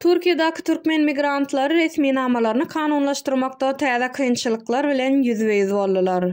Türkiýedäki türkmen migrantlary resminamalaryny kanunlaşdyrmakda täze kynçylyklar bilen ýüzbe-ýüz boldular.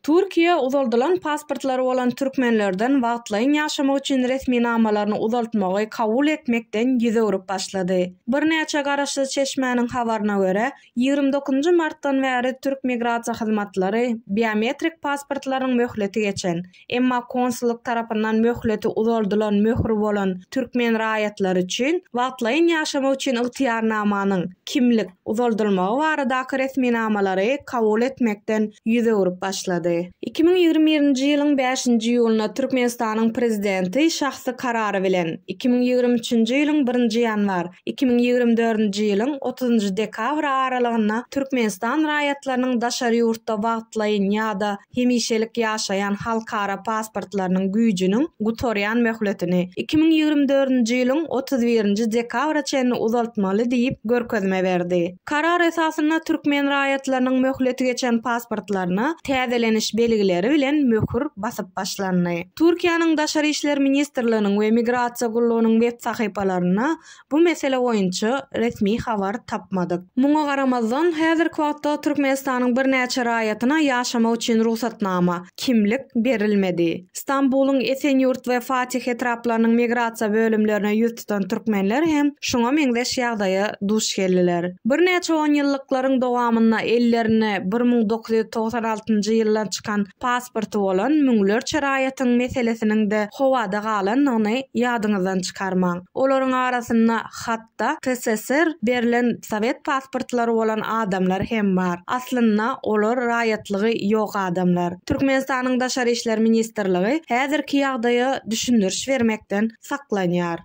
Türkiýe uzaldylan pasportlary bolan türkmenlerden wagtlaýyn ýaşamak üçin resminamalaryny uzaltmagy kabul etmekden ýüz öwrüp başlady. Birnäçe garaşsyz çeşmäniň habaryna görä, Ýigrimi dokuzynjy martdan bäri türk migrasiýa hyzmatlary biometrik pasportlaryň möhleti geçen, emma konsullyk tarapyndan möhleti uzaldylan möhri bolan türkmen raýatlary üçin wagtlaýyn ýaşamak üçin ygtyýarnamanyň, kimlik, uzaldylmagy baradaky resminamalary kabul etmekden ýüz öwrüp başlady. Iki müň ýigrimi birinji ýylyň bäşinji iýulynda Türkmenistanyň Prezidenti şahsy karary bilen iki müň ýigrimi üçünji ýylyň birinji ýanwar Iki müň ýigrimi dördünji ýylyň otuzynjy dekabry aralygynda Türkmenistan raýatlarynyň daşary ýurtda wagtlaýyn ýa-da hemişelik ýaşaýan halkara pasportlarynyň güýjüniň gutarýan möhletini iki müň ýigrimi dördünji ýylyň otuz birinji dekabra çenli uzaltmaly diýip görkezme berdi. Karar esasynda türkmen raýatlarynyň möhleti geçen pasportlaryna täzeleniş belgileri bilen möhür basyp başlandy. Türkiýäniň Daşary işler ministrliginiň we Migrasiýa gullugynyň web sahypalarynda bu mesele boýunça resmi habar tapmadyk. Muňa garamazdan, häzirki wagtda Türkmenistanyň birnäçe raýatyna ýaşamak üçin rugsatnama, kimlik berilmedi. Stambulyň Esenýurt we Fatih etraplarynyň migrasiýa bölümlerine ýüz tutan türkmenler hem şuňa meňzeş ýagdaýa duş geldiler. Birnäçe onýyllyklaryň dowamynda ellerinde bir müň dokuz ýüz togsan altynjy ýyldan çykan pasporty bolan müňlerçe raýatyň meselesiniň-de howada galandygyny ýadyňyzdan çykarmaň. Olaryň arasynda hat, Hatda TSSR berlen sowet pasportlary bolan adamlar hem bar. Aslynda olar raýatlygy ýok adamlar. Türkmenistanyň Daşary işler ministrligi häzirki ýagdaýa düşündiriş bermekden saklanýar.